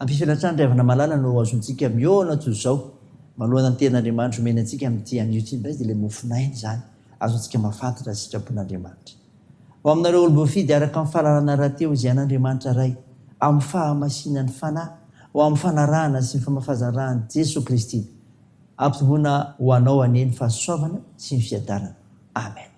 Ampiasaina hatrany ry havana malala no ahazoantsika mihaona toy izao manoloana ny tenin'Andriamanitra omeny antsika amin'ity anio ity indray dia ilay mofon'aina izany ahazoantsika mahafantatra ny sitrapon-Andriamanitra ho aminareo olom-boafidy araka ny fahalalana rahateo izay an'Andriamanitra Ray amin'ny fahamasinan'ny Fanahy ho amin'ny fanarahana sy ny famafazarany Jesoa Kristy ampitomboina ho anao anie ny fahasoavana sy ny fiadanana Amen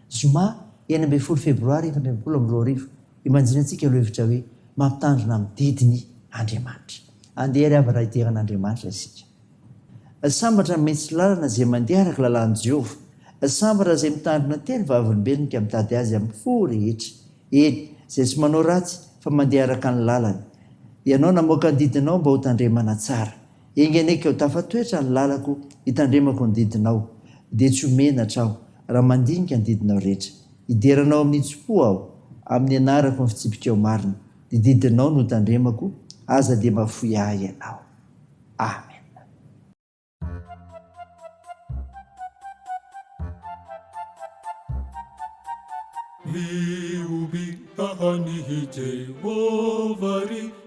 Zoma enina ambin'ny folo febroary efatra ambin'ny folo amby roa arivo Imagine antsika aloha hevitra hoe mampitandrina amin'ny didiny Andriamanitra. Andeha ary hava-ray dera an'Andriamanitra isika. Sambatra ny mihitsy lalana izay mandeha araka lalàn'i Jehovah. Sambatra izay mitandrina tia ny Vavolombelony ka mitady azy amin'ny fo rehetra, eny, izay tsy manao ratsy fa mandeha araka ny lalany. Ianao namoaka ny didinao mba hotandremana tsara. Enga anie keo tafatoetra ny lalako hitandremako ny didinao dia tsy ho menatra aho raha mandinika ny didinao rehetra. Hideranao amin'ny hitsim-po aho amin'ny hianarako ny fitsipikao marina, ny didinao no hotandremako, aza dia mahafoy ahy ianao. Amena. Mihoby tahàn'i Jehovah ry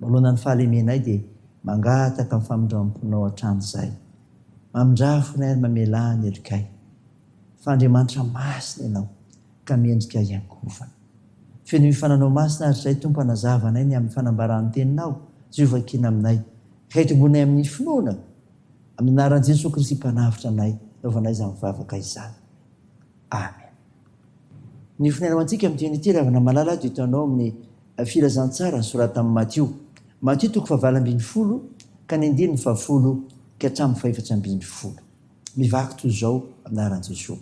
Manoloana ny fahalemenay dia mangataka ny famindramponao hatramin'izay. Mamindrà fonay ary mamelà ny helokay. Fa Andriamanitra masina Ianao ka mendrika hiangovana. Fenoy ny fananao masina hatrizay Tompo hanazava anay ny amin'ny fanambaran'ny Teninao sy ho vakiana aminay ka hitomboanay amin'ny finoana. Amin'ny anaran'i Jesoa Kristy Mpanavotra anay naovanay izany vavaka izany. Amen. Ny fonenao antsika amin'ny teny ity ravina malala dia hitanao amin'ny Filazantsara soratan' ny Matio. Matio toko fahavalo ambin'ny folo ka ny andininy fahafolo ka hatramin'ny fahefatra ambin'ny folo. Mivaky toy izao anaran'i Jesoa.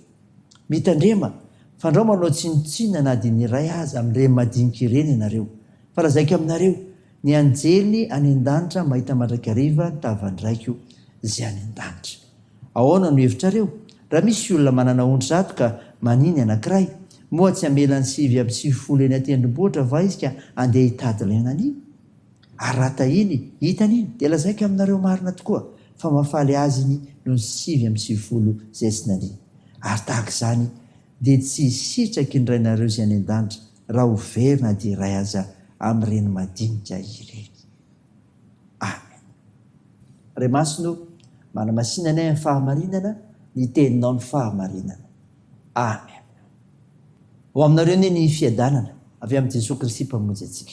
Mitandrema, fandrao manao tsinontsinona na dia ny iray aza amin'ireny madinika ireny ianareo, fa lazaiko aminareo, ny anjely any an-danitra mahita mandrakariva ny tavan-dRaiko izay any an-danitra. Ahoana no hevitrareo? Raha misy olona manana ondry zato ka manin ny anankiray, moa tsy hamela ny sivy amby sivifolo eny an-tendrombohitra va izy ka handeha hitady ilay nanin? Ary raha tahiny hitany iny, dia lazaiko aminareo marina tokoa, fa mahafaly azy iny noho ny sivy amby sivifolo izay tsy nanin. Ary tahaka izany dia tsy hisitraky ny Rainareo izay any an-danitra raha ho very na dia iray aza amin'ireny madinika ireny. any. Ray Masina o, manamasina anay amin'ny fahamarinana, ny teninao no fahamarinana. Amen. Ho aminareo anie ny fiadanana avy amin'i Jesoa Kristy Mpamonjy antsika.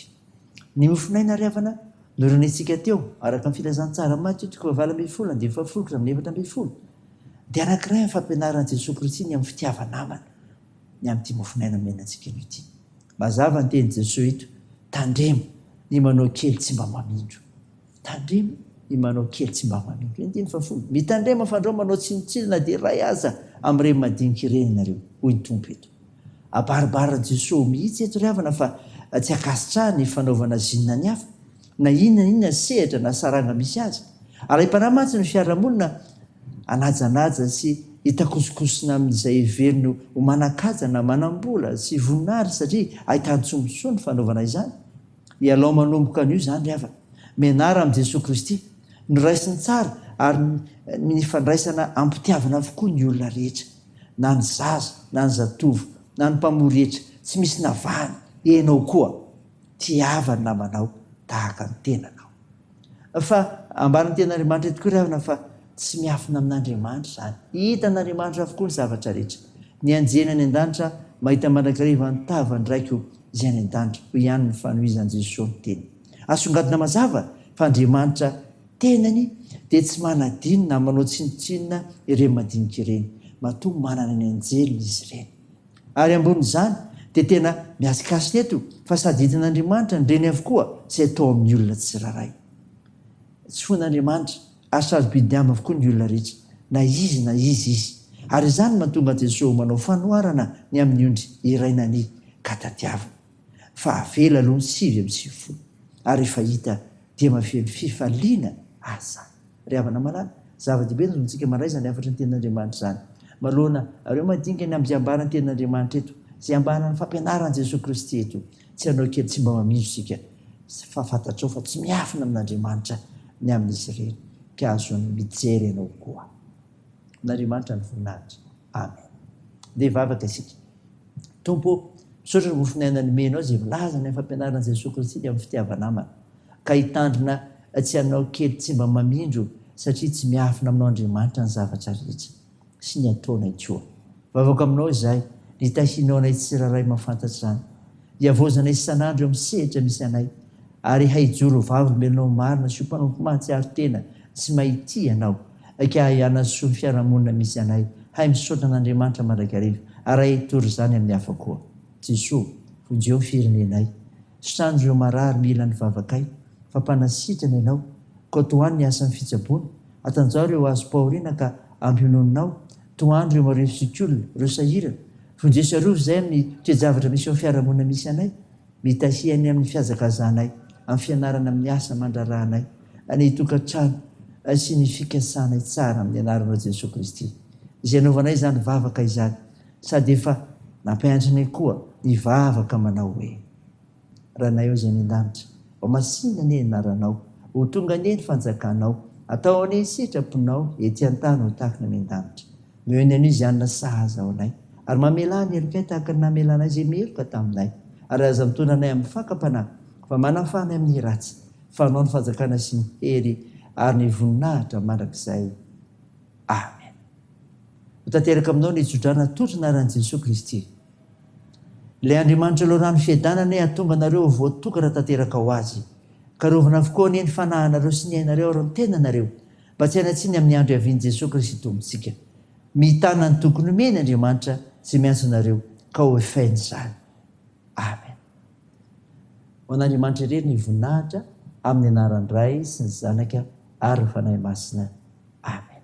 Ny mofon'aina ry havana norenehintsika teo, araka ny filazantsara Matio toko fahavalo ambin'ny folo andininy fahafolo ka hatramin'ny efatra ambin'ny folo, dia anankiray amin'ny fampianaran'i Jesoa Kristy ny amin'ny fitiava-namana. ny amin'ity mofonaina omena antsika anio ity. Mazava ny tenin'i Jesoa eto, tandremo ny manao kely tsy mba mamindro. Tandremo ny manao kely tsy mba mamindro. Eny teny fahafolo, mitandrema fa andrao manao tsinontsinona na dia iray aza amin'ireny madinika ireny ianareo, hoy ny Tompo eto. Abaribarin'i Jesoa mihitsy eto ry havana fa tsy ankasitraha ny fanaovana zinona ny hafa. na inona na inona sehatra na saranga misy azy. Arahi-panahy mantsy ny fiarahamonina hanajanaja sy hitakosokosona amin'izay heveriny ho manan-kaja na manam-bola sy voninahitra satria ahitan-tsombisoa ny fanaovana izany. Ialao manomboka anio izany ry havana. Mianara amin'i Jesoa Kristy. Noraisiny tsara ary nifandraisana am-pitiavana avokoa ny olona rehetra, na ny zaza na ny zatovo na ny mpamory hetra, tsy misy navahany, ianao koa. Tiava ny namanao tahaka ny tenanao. Fa ambaran'ny Tenin'Andriamanitra ihany tokoa ry havana fa tsy miafina amin'Andriamanitra izany. Hitan'Andriamanitra avokoa ny zavatra rehetra. Ny anjely any an-danitra mahita mandrakariva ny tavan-dRaiko izay any an-danitra, hoy ihany ny fanohizan'i Jesoa ny teny. Asongadina mazava fa Andriamanitra Tenany dia tsy manadino na manao tsinontsinona ireny madinika ireny. Matoa manana ny anjeliny izy ireny. Ary ambonin'izany dia tena mihasikasika eto fa sady hitan'Andriamanitra ny reny avokoa izay atao amin'ny olona tsirairay. Tsy foin'Andriamanitra ary sarobidy Aminy avokoa ny olona rehetra, na izy na iza izy. Ary izany no mahatonga an'i Jesoa manao fanoharana ny amin'ny ondry iray nania ka tadiaviny. fa avela aloha ny sivy amby sivifolo ary rehefa hita dia mavely fifaliana aza ry havana malala zava-dehibe ny zontsika mandray izany hafatry ny tenin'Andriamanitra izany manoloana ireo mandinika ny ambiambara ny tenin'Andriamanitra eto izay ambaran'ny fampianaran'i Jesoa Kristy eto tsy hanao kely tsy mba mamino isika fa fantatrao fa tsy miafina amin'Andriamanitra ny amin'izy ireny ka azon'ny mijery ianao koa n'Andriamanitra ny voninahitra Amen. Ndeha hivavaka isika. Tompo ô, misaotra ny mofon'aina nomenao izay milaza ny fampianaran'i Jesoa Kristy ny amin'ny fitiava-namana, ka hitandrina tsy hanao kely tsy mba mamindro satria tsy miafina aminao Andriamanitra ny zavatra rehetra sy ny ataonay koa. Vavako aminao izahay, ny tahinao anay tsirairay mahafantatra izany, hiavaozanay isan'andro eo amin'ny sehatra misy anay, ary hahijoro ho vavolombelonao marina sy ho mpanompo mahatsiaro tena sy mahay tia Ianao, Aika ahy hanasoa ny fiarahamonina misy anay, hay misaotra an'Andriamanitra mandrakariva, ary hay hitory izany amin'ny hafa koa. Jesoa, vonjeo ny firenenay. Sitrano ireo marary mila ny vavakay, fa mpanasitrana Ianao, koa tohano ny asan'ny fitsaboana. Atanjaho ireo hazom-pahoriana ka ampiononinao, tohano ireo marivo sy olona, ireo sahirana. Vonjeo sy arovy izay amin'ny toe-javatra misy eo amin'ny fiarahamonina misy anay. Mitahiry ny amin'ny fihazakazahanay, amin'ny fianarana amin'ny asa aman-draharahanay, ny tokantrano sy ny fikasanay tsara amin'ny anaranao Jesoa Kristy. Izay anaovanay izany vavaka izany sady efa nampianatrinay koa ny vavaka manao hoe. Ranay ao izay any an-danitra, ho masina anie ny anaranao, ho tonga anie ny fanjakanao, atao anie ny sitraponao ety an-tany ho tahaka ny any an-danitra. Miheno an'i Ziana sahaza ao anay, ary mamelà ny helokay tahaka ny namelanay izay meloka taminay. Ary aza mitoana anay amin'ny fakam-panahy, fa manafaha anay amin'ny ratsy, fa anao ny fanjakana sy ny hery ary ny voninahitra mandrakizay. Amen. Ho tanteraka aminao ny tso-drano atolotry ny anaran'i Jesoa Kristy. Ilay Andriamanitra Loharano Fiadanana anie hahatonga anareo ho voatokana tanteraka ho Azy. Karovina avokoa anie ny fanahinareo sy ny ainareo ary ny tenanareo. Mba tsy hanatsiny amin'ny andro hiavian'i Jesoa Kristy Tompontsika. Mitana ny tokony homeny Andriamanitra izay miantso anareo ka hoefainy izany. Amen. Ho an'Andriamanitra irery ny voninahitra amin'ny anaran'ny Ray sy ny Zanaka ary ny Fanahy Masina. Amen.